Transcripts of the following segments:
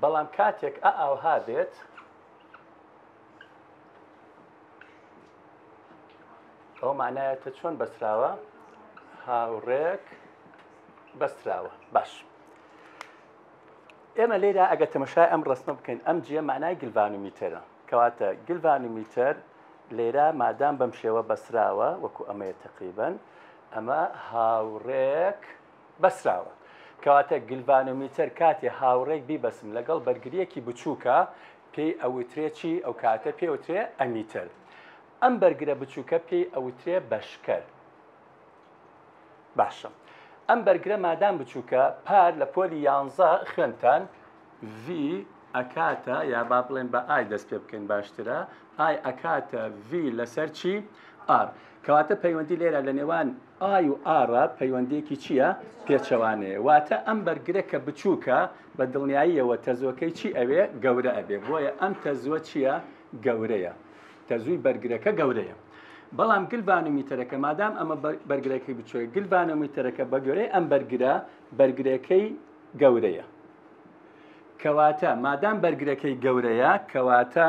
بەڵام کاتێک ئا ئاوها بێت ئەو مانایەتە چۆن بەسراوە هاوڕێک بەستراوە باش ئێمە لێرا ئەگە تەمەشای ئەم ڕستمە بکەین ئەم جێ مانای گلڤانومیتەرە کەواتە گلڤانومیتەر لێرا مادام بەم شێوە بەسراوە وەکو ئەمەیە تقریبن ئەمە هاوڕێک بەسراوە. کەواتە گلڤانۆمیتەر کاتێ هاوڕێک بیبەسم لەگەڵ بەرگرییەکی بچووکە پێی ئەوترێ چی؟ ئەو کاتە پێی ئەوترێ ئەمیتەر. ئەم بەرگرە بچووکە پێی ئەوترێ بەشکەر. باشە ئەم بەرگرە مادام بچووکە پار لە پۆلی یانزە خوێندتان ڤی ئەکاتە یا با بڵێن بە ئای دەست پێ بکەین باشترە ئای ئەکاتە ڤی لەسەر چی؟ ئار. کەواتە پەیوەندی لێرە لە نێوان ئای و ئارا پەیوەندییەکی چییە؟ پێچەوانەیە. واتە ئەم بەرگرە کە بچووکە، بە دڵنیاییەوە تەزووەکەی چی ئەوێ؟ گەورە ئەبێ. بۆیە ئەم تەزووە چییە؟ گەورەیە. تەزووی بەرگرەکە گەورەیە. بەڵام گلڤانۆمیتەرەکە، مادام ئەمە بەرگرەکەی بچووکە، گلڤانۆمیتەرەکە بە گوێرەی ئەم بەرگرە، بەرگرەکەی گەورەیە. کەواتە مادام بەرگرەکەی گەورەیە، کەواتە.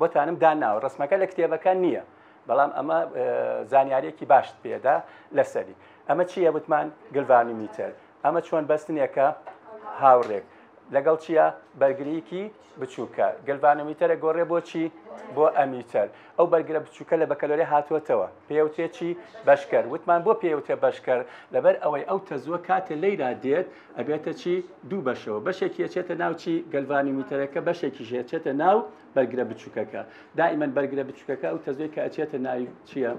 بۆتانم داناوە ڕسمەکە لە کتێبەکە نییە بەڵام ئەمە زانیارێکی باشت پێدا لەسەری ئەمە چییە وتمان گلڤانومیتر ئەمە چۆن بەستنێکە هاوڕێک لەگەڵ چییە بەرگریکی بچووکە گەلڤانەمیتەرە گۆڕێ بۆچی بۆ ئەمیتەر ئەو بەرگرە بچووکە لە بەکەلۆری هاتووەتەوە پێوتێکی بەشکەر وتمان بۆ پێوتێ بەشکەر لەبەر ئەوەی ئەو تەزووە کاتێ لەیرا دێت ئەبێتە چی دوو بەشەوە بەشێکی ئەچێتە ناوچی گەلڤانیمیتەرەکە بەشێکیش ئەچێتە ناو بەرگرە بچووکەکە دائیمەن بەرگرە بچووکەکە ئەو تەزوێک کە ئەچێتە ناوی چییە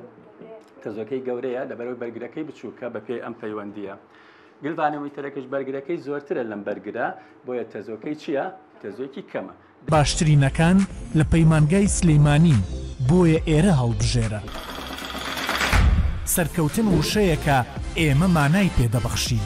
تەزۆکەی گەورەیە لەبەرەوەی بەرگرەکەی بچووکە بە پێی ئەم پەیوەندیە گلڤانەمیتەرەکەش بەرگرەکەی زۆرترە لەم بەرگرە بۆیە تەزۆکەی چییە تەزۆکی کەمە باشترینەکان لە پەیمانگای سلیمانین بۆیە ئێرە هەڵبژێرە. سەرکەوتن وشەیەکە ئێمە مانای پێ دەبەخشین.